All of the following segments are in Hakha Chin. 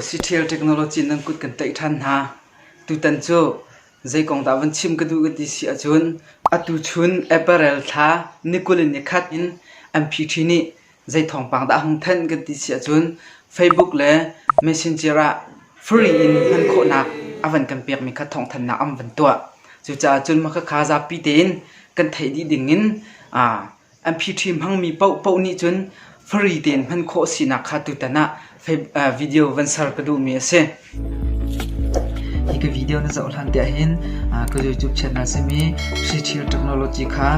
Siṭhial technology nan kut kan tlaih ṭhan hna. Tutan cu zei kong dah van chim ka duh ka ti si ahcun atuchun apparel thla nikul in nikhat in an phi ṭhin i zei thawngpang dah a hung thanh kan ti si ahcun Facebook le Messenger ah free in hman khawhnak a van kan pekmi kha thawngthanhnak an van tuah. Cucaah cun mah khakha zapi tein kan theih dih dingin An phiṭhi hmangmi paohpaoh nih cun fari tein hman khawh a sinak kha tutan ah video van ser ka duhmi a si. Hi ka video na zoh hlan tiah hin ka YouTube channel simi Sri Chir Technology kha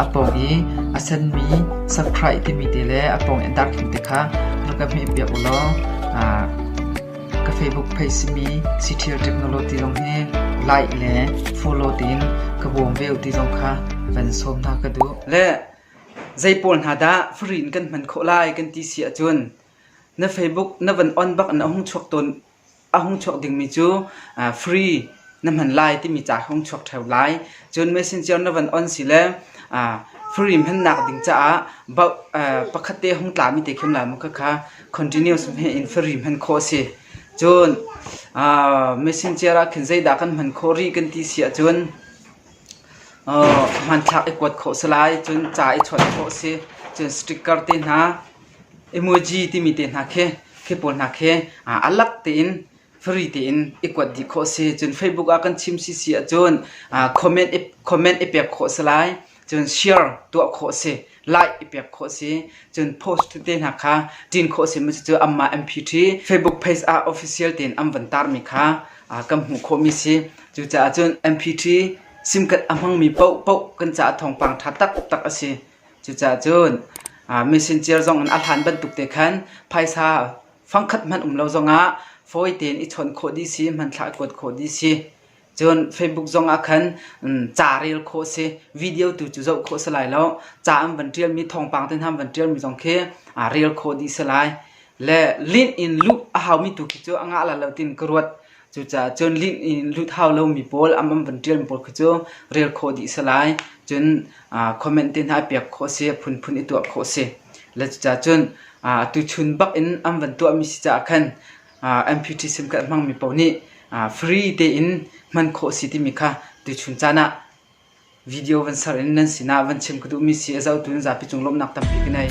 a pawng i a senmi subscribe timi te le a pawng i darkhim te kha rak ka hmeh piak u law Ka Facebook page simi Citial Technology zong hi like le follow tiin ka bawm ve ti zong kha van sawm hna ka duh. Le zei pawl hna dah fari in kan hman khawh lai kan ti si ahcun na Facebook na van on bak na hung chuak tawn a hung chuak dingmi cu uh, free na hman lai timi ca hung chuak theo lai. Cun Messenger na van on si le uh, free hmannak ding caah uh, pakhat te hung tlami te khem la mu kha kha continuous hmeh in fari hman khawh a si. Cun machine chair ah khin zeidah kan hman khawh rih kan ti si ahcun hmanthlak i kuat khawh si lai. Cun ca i chawnh khawh a si. Cun sticker te hna, emoji timi te hna khi khi pawl hna khi alak tein fari tein i kuat dih khawh a si. Cun Facebook ah kan chim si si ahcun comment i pek khawh a si lai. cun share tuah khawh a si like i pek khawh a si cun post tete hna kha ṭin khawh a si mi cu amah mpt facebook page ah official tein an van tar mi kha kan hmuh khawh mi si cucaah cun mpt sim kat a hmang mi poh poh kan caah thawngpang ṭha taktak a si cucaah cun messenger zong in a hlan bantuk te khan phaisa fangkhat hmanh um lo zongah fawi tein i chawnh khawh dih si hmanthlak kuat khawh dih si Cun Facebook zong ah khan ca rel khawh a si. Video tu cu zoh khawh a si lai lo. Ca an van ṭialmi, thawngpang te hna an van ṭialmi zong khi rel khawh dih a si lai. Le lint in lut a haumi tu khi cu a ngah la lo tiin ka ruat. Cucaah cun lint in lut hau lomi pawl, an van ṭialmi pawl khi cu rel khawh dih a si lai. Cun comment te hna i pek khawh a si, phunphun i tuah khawh a si. Le cucaah cun atuchun bak in an van tuahmi si caah khan MPT sim kan hmangmi paoh nih free tein hman khawh a si timi kha tuchun caan ah video van ser in nan sinah van chim ka duhmi si a zohtu in zapi cung lawmhnak tampi ka ngei.